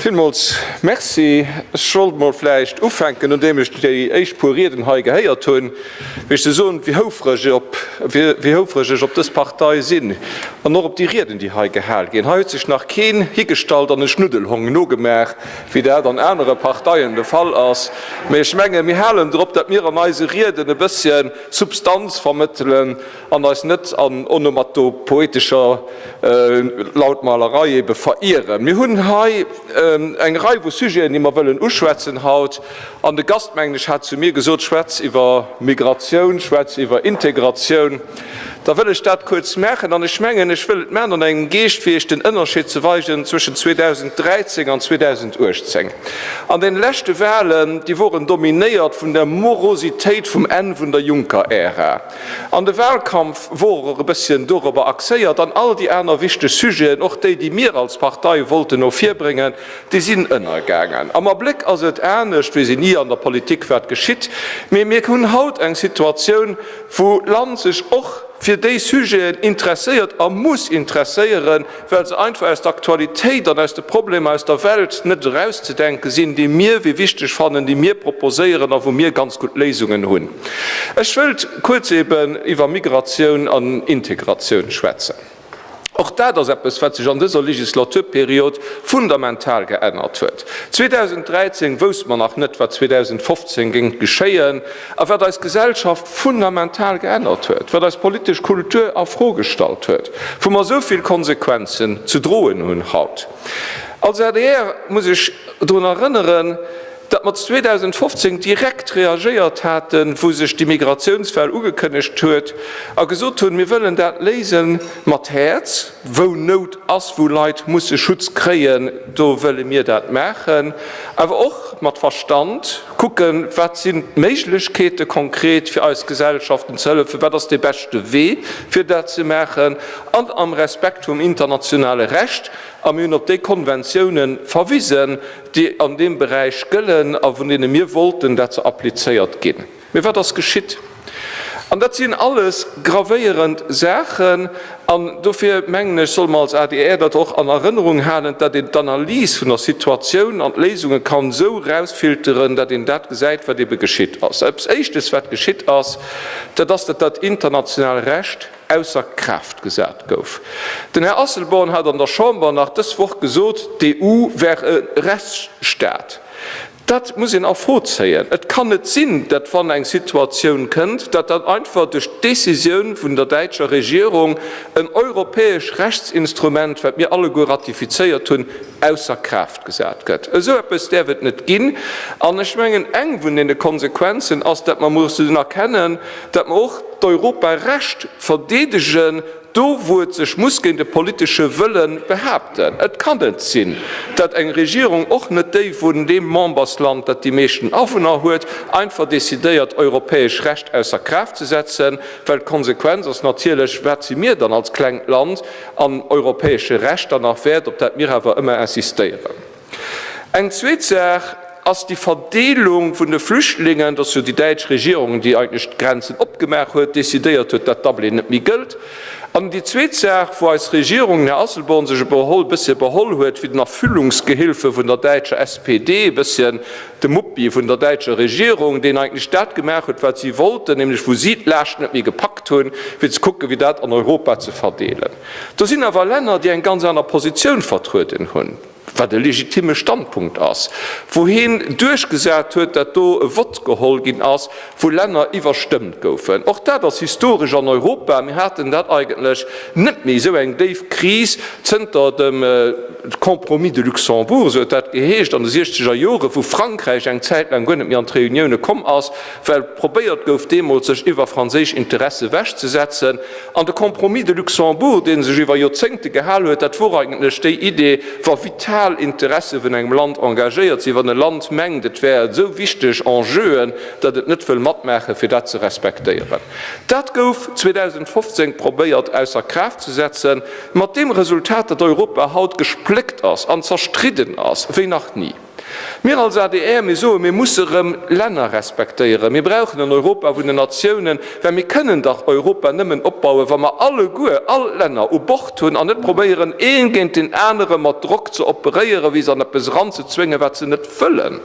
Villmools Merci. Ech sollt mol vläicht ufänken, nodeem ech déi éischt puer Rieden hei gehéiert hunn, wéi ech se soen, wéi houfreg ech op dës Partei sinn an och op déi Rieden, déi hei gehal ginn. Hei huet sech nach keen higestallt an e Schnuddelhong nogemaach, wéi dat an anere Parteien de Fall ass. Mee ech menge mir halen drop, datt mir an eise Rieden e bësschen Substanz vermëttelen. An eis net an onomatopoetescher Lautmalerei ebe verieren. Mir hunn hei eng Rei vu Sujeten, déi mer wëllen uschwätzen haut. An de Gast, mengen ech, hat zu mir gesot, Schwätz iwwer Migratioun, schwätz iwwer Integratioun. Da wëll ech dat kuerz maachen. An ech mengen, ech wëll et maachen an engem Geescht, fir Iech den Ënnerscheed ze weisen zwëschen 2013 an 2018. An deene leschte Wahlen, déi woren dominéiert vun der Morositéit vum Enn vun der Juncker-Ära. An de Wahlkampf wor och e bësschen dorobber axéiert an all déi aner wichteg Sujeten, och déi, déi mir als Partei wollten no vir bréngen, déi sinn ënnergaangen. Am Abléck ass et anescht wéi se ni an der Politik wat geschitt, mee mir hunn haut eng Situatioun, wou d'Land sech och fir déi Sujeten interesséiert a muss interesséieren, well se einfach aus der Aktualitéit an aus de Problemer aus der Welt net erauszedenke sinn, déi mir wéi wichteg fannen, déi mir proposéieren a wou mir ganz gutt Léisungen hunn. Ech wëllt kuerz eben iwwer Migratioun an Integratioun schwätzen. Och dat ass eppes, wat sech an dëser Legislaturperiod fundamental geännert huet. 2013 wousst mer nach net, wat 2015 géing geschéien. A wat eis Gesellschaft fundamental geännert huet, wat eis politesch Kultur a Fro gestallt huet, wou mer esou vill Konsequenzen ze droen hunn haut. Als adr muss ech drun erënneren, datt mer 2015 direkt reagéiert haten, wou sech d'Immigratiounswell ugekënnegt huet, a gesot hunn, mir wëllen dat léise mat Häerz, wou Nout ass, wou Leit musse Schutz kréien, do wëlle mir dat maachen, awer och mat Verstand. Kucken, wat sinn d'Méiglechkeete konkret fir eis Gesellschaften ze hëllefen, wat ass dee beschte Wee fir dat ze maachen, an am Respekt vum internationale Recht. A mir hunn op déi Konventioune verwisen, déi an deem Beräich gëllen a vun deene mir wollten, dat se applizéiert ginn. Mee wat ass geschitt? An dat sinn alles gravéierend Saachen. An dofir, mengen ech, solle mer als adr dat och an Erënnerung halen, datt een d'Analys vun der Situatioun an d'Léisunge kann esou erausfilteren, datt een dat gesäit, wat ebe geschitt ass. Als Éischtes, wat geschitt ass, dat ass, datt dat internationaalt Recht ausser Kraaft gesat gouf. Den Här Asselborn hat an der Chamber nach dës Woch gesot, d'EU wär e Rechtsstaat. Dat muss een a Fro zéien. Et kann net sinn, datt wann eng Situatioun kënnt, datt dann einfach duerch d'Décisioun vun der däitscher Regierung en europäesch Rechtsinstrument, wat mir alleguer ratifizéiert hunn, ausser Kraaft gesat gëtt. Esou eppes däerf et net ginn. An ech mengen, eng vun deene Konsequenzen ass, datt mer mussen erkennen, datt mer och d'Europarecht verdeedegen, Do wou et sech muss géint e politesche Wëlle behaapten. Et kann net sinn, datt eng Regierung, och net déi vun deem Membersland, dat déi meeschten Awunner huet, einfach decidéiert europäesch Recht ausser Kraaft ze setzen, well d'Konsequenz ass natierlech, wat si mir dann als klengt Land an europäesche Recht dann nach wäert, op dat mir awer ëmmer insistéieren. Eng zweet Saach ass déi Verdeelung vun de Flüchtlingen. Et ass jo déi däitsch Regierung, déi eigentlech d'Grenzen opgemaach huet, decidéiert huet, datt Dublin net méi gëllt. An déi zweet Saach, wou eis Regierung, den Här Asselborn, sech e bësse beholl huet, wéi den Erfüllungsgehilfe vun der däitscher SPD, e bësschen de Muppi vun der däitscher Regierung, deen eigentlech dat gemaach huet, wat si wollten, nämlech wou si d'Laascht net méi gepackt hunn, fir ze kucken, wéi dat an Europa ze verdeelen. Do sinn awer Länner, déi eng ganz aner Positioun vertrueden hunn. wat e legitimme Standpunkt ass, wou heen duerchgesat huet, datt do e Vott geholl ginn ass, wou Länner iwwerstëmmt goufen. Och dat ass historesch an Europa. Mir haten dat eigentlech net méi, esou eng déif Kris, zënter dem Compromis de Luxembourg, esou huet dat geheescht, an de siechzeger Jore, wou Frankräich eng Zäit laang guer net méi an d'Reunioune komm ass, well probéiert gouf deemools sech iwwer franséisch Interesse ewech ze setzen, an de Compromis de Luxembourg, dee sech iwwer Joerzéngte gehal huet, dat wor eigentlech déi Idee, wa vital Interesse vun engem Land engagéiert sinn, wann e Land mengt et wär esou wichteg Enjeuen, datt et net wëll matmaachen, fir dat ze respektéieren. Dat gouf 2015 probéiert ausser Kraaft ze setzen, mat deem Resultat, datt Europa haut gespléckt ass an zerstridden ass wéi nach ni. Mir als adr, mir soen, mir musse erëm Länner respektéieren. Mir brauchen en Europa vun den Natiounen, well mir kënnen dach Europa nëmmen opbauen, wa mer alleguer, all d'Länner u Bord hunn an net probéieren, ee géint deen anere mat Drock ze operéieren, wéi se an eppes eranzezwéngen, wat se net wëllen.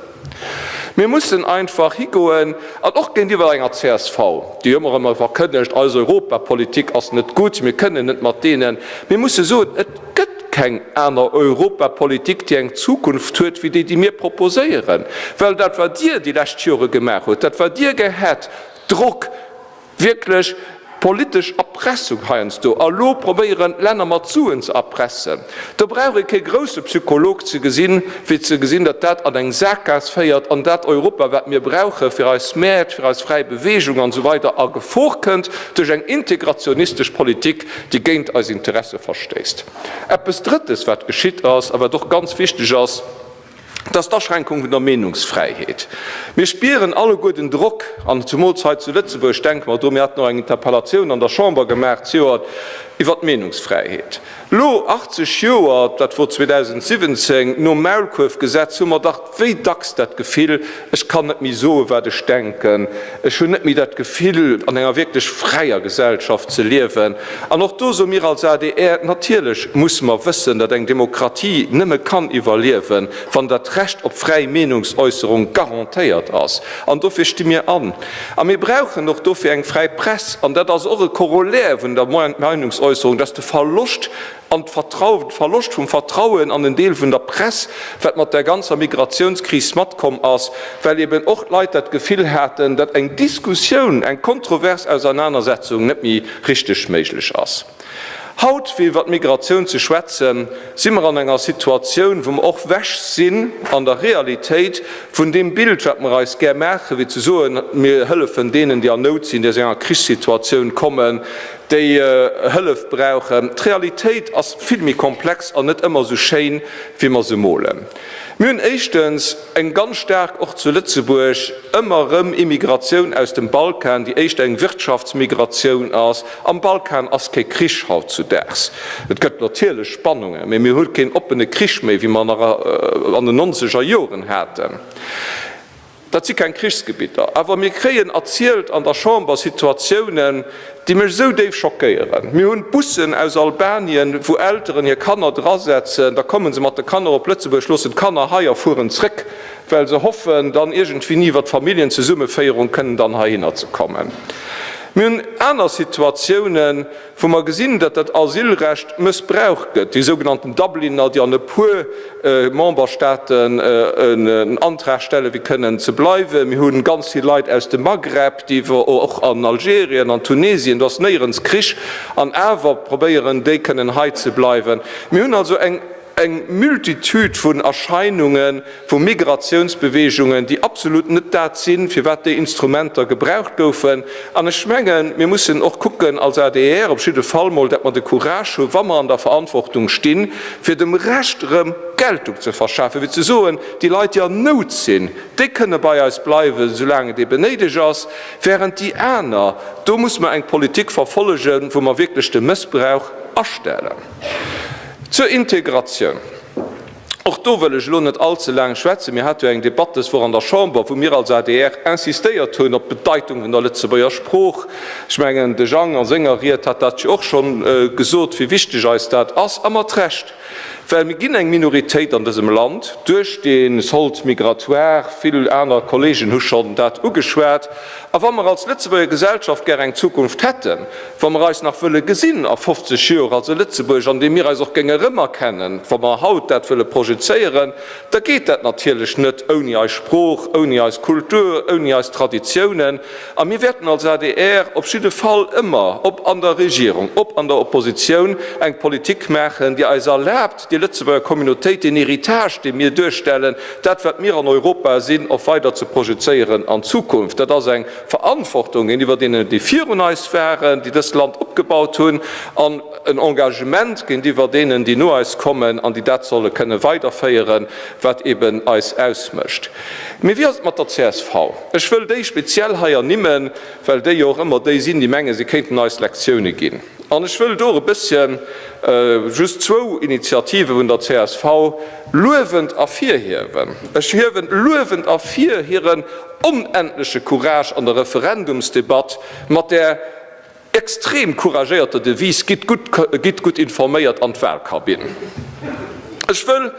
Mir mussen einfach higoen an och géintiwwer enger csv, déi ëmmer erëm verkënnegt, eis Europapolitik ass net gutt, mir kënnen net mat deenen, mir musse soen, et gëtt. keng aner Europapolitik, déi eng Zukunft huet wéi déi, déi mir proposéieren. Well dat, wat Dir déi lescht Jore gemaach hutt, dat, wat Dir gehätt, Drock, wierklech politesch Erpressung heiansdo, a lo probéieren d'Länner mat Suen ze erpressen, do brauch ee kee grousse Psycholog ze gesinn, fir ze gesinn, datt dat an eng Sakgaass féiert an dat Europa, wat mir brauche fir eis Mäert, fir eis fräi Beweegung an esou weider a Gefor kënnt duerch eng integrationistesch Politik. déi géint eis Interesse verstéisst. Eppes Drëttes, wat geschitt ass a wat och ganz wichteg ass, dat ass d'Aschränkung vun der Meenungsfräiheet. Mir spieren alleguer den Drock, an zemools hei zu Lëtzebuerg, ech denke mer do, mir haten och eng Interpellatioun an der Chamber gemaach zejoert iwwert d'Meenungsfräiheet. Elo, 80 Joer, dat wor 2017, nom Maulkuerfgesetz, hu mer dach, Wéi dacks dat Gefill, ech kann net méi soen, wat ech denken, ech hunn net méi dat Gefill, an enger wierklech fräier Gesellschaft ze liewen. An och do soe mir als adr, Natierlech musse mer wëssen, datt eng Demokratie nëmme kann iwwerliewen, wann dat Recht op fräi Meenungsäusserung garantéiert ass. An dofir sti mir an. A mir brauchen och dofir eng fräi Press. An dat ass och e Corollaire vun der Meinungsäusserung, datt de Verloscht An d'Vertrauen, de Verloscht vum Vertrauen an en Deel vun der Press, wat mat där ganzer Migratiounskris matkomm ass, well eben och d'Leit dat Gefill haten, datt eng Diskussioun, eng kontrovers Ausernanersetzung net méi richteg méiglech ass. Haut, fir iwwer d'Migratioun ze schwätzen, si mer an enger Situatioun, wou mer och wech sinn an der Realitéit vun deem Bild, wat mer eis gär maachen, fir ze soen, mir hëllefen deenen, déi an Nout sinn, déi aus enger Krichssituatioun kommen, déi Hëllef brauchen. D'Realitéit ass vill méi komplex an net ëmmer esou schéin, wéi mer se molen. Mir hunn éischtens eng ganz staark, och zu Lëtzebuerg, ëmmer erëm Immigratioun aus dem Balkan, déi éischter eng Wirtschaftsmigratioun ass. Am Balkan ass kee Krich hautzudaags. Et gëtt natierlech Spannungen, mee mir hu keen oppene Krich méi, wéi mer en nach an den nonzeger Joren haten. Dat si keng Krichsgebitter, awer mir kréien erzielt an der Chamber Situatiounen, déi mech esou déif schockéieren. Mir hunn d'Bussen aus Albanien, wou Elteren hir Kanner drasetzen, da komme se mat de Kanner op Lëtzebuerg, loossen d'Kanner hei a fueren zréck, well se hoffen, dann iergendwéini iwwer d'Familljenzesummeféierung kënnen dann heihinner ze kommen. Mir hunn aner Situatiounen. wou mer gesinn, datt dat Asylrecht mëssbraucht gëtt, déi sougenannten Dubliner, déi an e puer Memberstaaten en Antrag stellen, fir kënnen ze bleiwen. Mir hu ganz vill Leit aus dem Maghreb, déi och an Algerien, an Tunesien, do ass néierens Krich, an awer probéieren déi kënnen hei ze bleiwen. Mir hunn also eng. Eng Multitude vun Erscheinunge vu Migratiounsbewegungen, déi absolut net dat sinn, firwat déi Instrumenter gebraucht goufen. An ech mengen, mir mussen och kucken als adr op jidde Fall mol, dat mer de Courage hu wa mer an der Verantwortung stinn, fir dem Recht erëm Geltung ze verschafen, fir ze soen, déi Leit, déi an Nout sinn, déi kënne bei eis bleiwen, soulaang et eeben néideg ass, während déi aner, do muss mer eng Politik verfollegen, wou mer wierklech de Mëssbrauch astellen. Zur Integratioun, och do wëll ech elo net all ze laang schwätzen. Mir hate jo eng Debatt dës Woch an der Chamber, wou mir als adr insistéiert hunn op d'Bedeitung vun der Lëtzebuerger Sprooch. Ech mengen, de Jang a senger Ried hat dat jo och scho gesot, wéi wichteg eis dat ass, a mat Recht. Well mir ginn eng Minoritéit an dësem Land duerch dee Solde migratoire, vill aner Kolleegen hu schonn dat ugeschwat, A wa mer als Lëtzebuerger Gesellschaft gär eng Zukunft hätten, wa mer eis nach wëlle gesinn a 50 Joer als e Lëtzebuerg, an deem mir eis och géinge remerkennen, wa mer haut dat wëlle projezéieren, da geet dat natierlech net ouni eis Sprooch, ouni eis Kultur, ouni eis Traditiounen. A mir wäerten als adr op jidde Fall ëmmer, ob an der Regierung, ob an der Oppositioun, eng Politik maachen, déi eis erlaabt, déi Lëtzebuerger Communautéit, deen Héritage, dee mir duerstellen, dat, wat mir an Europa sinn, och weider ze projezéieren an d'Zukunft. Dat ass eng Verantwortung géintiwwer deenen, déi virun eis waren, déi dëst Land opgebaut hunn, an en Engagement géintiwwer deenen, déi no eis kommen an déi dat solle kënne weiderféieren, wat eben eis ausmécht. Mee wéi ass et mat der csv? Ech wëll déi speziell hei ernimmen, well déi jo och ëmmer déi sinn, déi mengen, si kéinten eis Lektioune ginn. An ech wëll do e bësschen just zwou Initiative vun der csv luewend ervirhiewen. Ech hiewen luewend ervir hiren onendleche Courage an der Referendumsdebatt mat där extrem couragéierter Devise Gitt gutt informéiert an d'Wahlkabinn. Ech wëll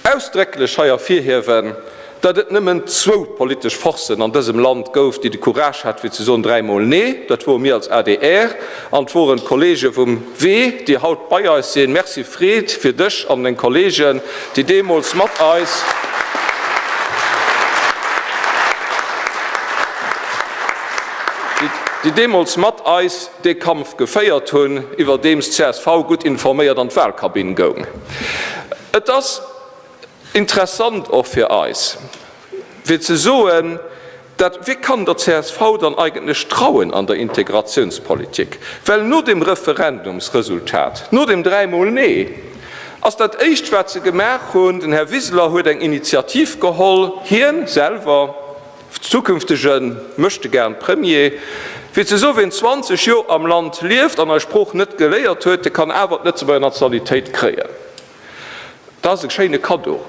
ausdrécklech hei ervirhiewen, datt et nëmmen zwou politesch Forcen an dësem Land gouf, déi de Courage hat fir ze soen dräimol Nee. Dat wore mir als adr an et woren d'Kollege vum Wee, déi haut bei eis sinn. Merci Fred, fir dech an deng Kollegen, déi deemools mat eis déi deemools mat eis dee Kampf geféiert hunn, iwwerdeems d'CSV gutt informéiert an d'Walkabinn goung. Et ass interessant och fir eis, fir ze soen, dat, Wie kann der csv dann eigentlech trauen an der Integratiounspolitik? Well no dem Referendumsresultat, no dem dräimol Nee, ass dat Éischt, wat se gemaach hunn, den Här Wiseler huet eng Initiativ geholl, hien selwer, zukünftege Möchtegern Premier, fir ze soen, wien 20 Joer am Land lieft an eis Sprooch net geléiert huet, dee kann awer d'Lëtzebuerger Nationalitéit kréien. Dat ass e schéine Kaddo,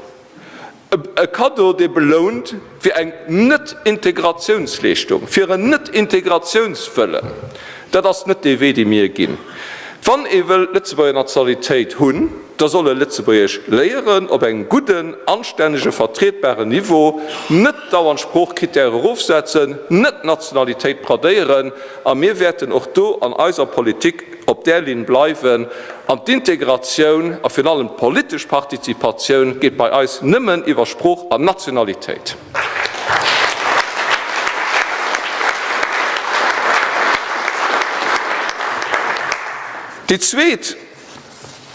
e Kaddo, dee belount fir eng Net-Integratiounsleeschtung, fir en Net-Integratiounswëllen. Dat ass net dee Wee, dee mir ginn, wann ee wëll d'Lëtzebuerger Nationalitéit hunn. Da soll e Lëtzebuergesch léieren, op engem gudden, anstännege, vertrietbaren Niveau, net dauernd Sproochcritèrë erofsetzen, net d'Nationalitéit bradéieren. A mir wäerten och do an eiser Politik op där Linn bleiwen. An d'Integratioun a virun allem d'politesch Partizipatioun geet bei eis nëmmen iwwer Sprooch an Nationalitéit. Déi zweet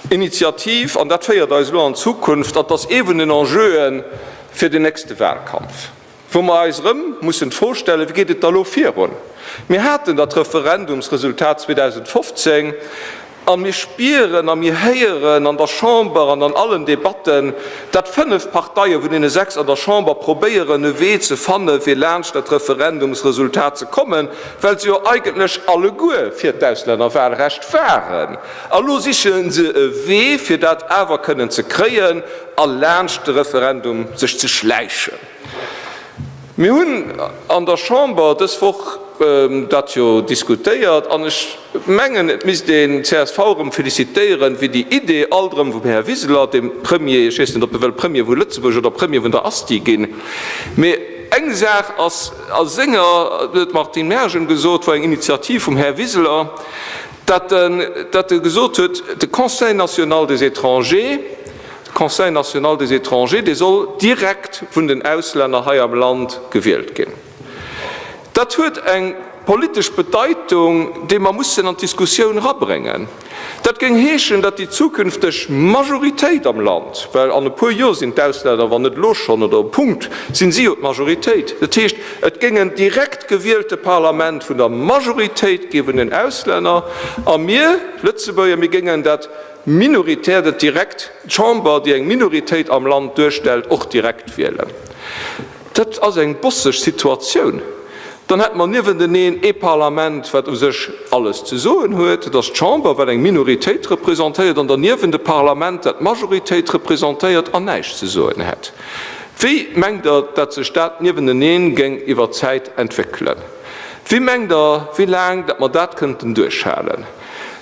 Initiativ, an dat féiert eis elo an d'Zukunft, an ass ee vun den Enjeue fir den nächste Wahlkampf, wou mer eis erëm mussen d'Fro stellen, Wéi geet et da elo virun? Mir haten dat Referendumsresultat 2015 a mir spieren a mir héieren an der Chamber an an allen Debatten, dat fënnef Parteie vun deene sechs an der Chamber probéieren e Wee ze fanne fir laanscht dat Referendumsresultat ze kommen, Well se jo eigentlech alleguer fir d'Auslännerwahlrecht waren. A lo siche se e Wee, fir dat awer kënnen ze kréien a laanscht de Referendum sech ze schläichen. Mir hunn an der Chamber dës Woch dat jo diskutéiert an ech mengen, et misst een csv erëm felicitéieren, fir déi Idee alt erëm vum Här Wiseler, dem Premier, ech weess net, ob e wëll Premier vu Lëtzebuerg oder Premier vun der Asti ginn, mee eng Saach ass, A senger, dat huet d'Martine Mergen gesot, war eng Initiativ vum Här Wiseler, dat en, dat e gesot huet, de Conseil national des étrangers, de Conseil national des étrangers, dee soll direkt vun den Auslänner hei am Land gewielt ginn. Dat huet eng politesch Bedeitung, déi mer mussen an d'Diskussioun erabréngen. Dat géing heeschen, datt déi zukünfteg Majoritéit am Land, well an e puer Joer sinn d'Auslänner, wann net elo schonn, oder um Punkt sinn si jo d'Majoritéit, dat heescht et géing en direkt gewielte Parlament vun der Majoritéit gi vun den Auslänner, a mir Lëtzebuerger, mir géingen dat minoritäert, et direkt d'Chamber, déi eng Minoritéit am Land duerstellt, och direkt wielen. Dat ass eng bosseg Situatioun. Dann hätte mer niewenteneen ee Parlament, wat u sech alles ze soen huet, dat ass d'Chamber, wat eng Minoritéit representéiert, an derniewent e Parlament, dat d'Majoritéit representéiert an näischt ze soen hätt. Wéi mengt Der, datt sech dat niewenteneen géing iwwer d'Zäit entwéckelen? Wéi mengt Der, wéi laang datt mer dat kënnten duerchhalen?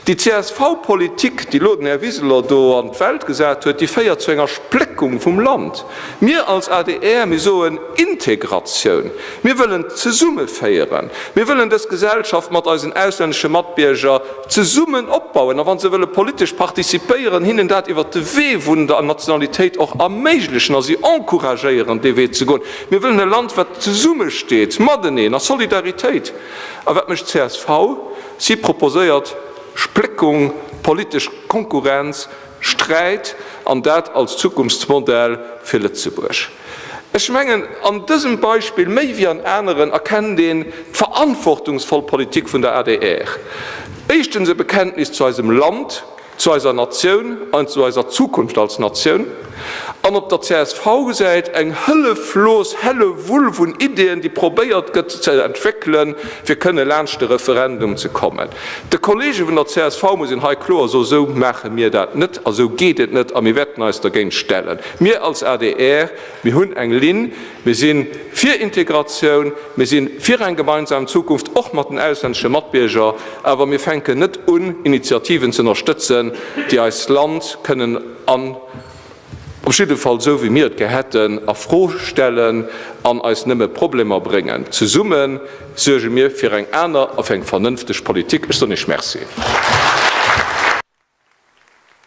Déi CSV-Politik, déi elo den Här Wiseler do an d'Welt gesat huet, déi féiert zu enger Spléckung vum Land. Mir als adr, mir soen, Integratioun, mir wëllen zesummeféieren, mir wëllen dës Gesellschaft mat eisen auslännesche Matbierger zesummen opbauen a wa se wëlle politesch participéieren, hinnen dat iwwert de Wee vun der Nationalitéit och erméiglechen a si encouragéieren, dee Wee ze goen. Mir wëllen e Land, wat zesummesteet mateneen a Solidaritéit. A wat mécht d'CSV? Si proposéiert Spléckung, politesch Konkurrenz, Sträit, an dat als Zukunftsmodell fir Lëtzebuerg. Ech mengen, an dësem Beispill méi wéi an aneren erkennt een d'verantwortungsvoll Politik vun der adr. Éischtens e Bekenntnis zu eisem Land. zu eiser Natioun an zu eiser Zukunft als Natioun, an op der CSV-Säit eng hëlleflos Hällewull vun Ideeën, déi probéiert gëtt ze entwéckelen, fir kënne laanscht de Referendum ze kommen. De Kolleege vun der csv muss een hei kloer soen, Esou maache mir dat net a sou geet et net a mir wäerten eis dergéint stellen. Mir als adr, mir hunn eng Linn, Mir si fir Integratioun, mir si fir eng gemeinsam Zukunft, och mat den auslännesche Matbierger, awer mir fänken net un, Initiativen ze ënnerstëtzen, déi eist Land kënnen an, op jidde Fall esou wéi mir et gär hätten, a Fro stellen an eis nëmme Problemer bréngen. Zesumme suerge mir fir eng aner a fir eng vernënfteg Politik. Ech soen Iech Merci.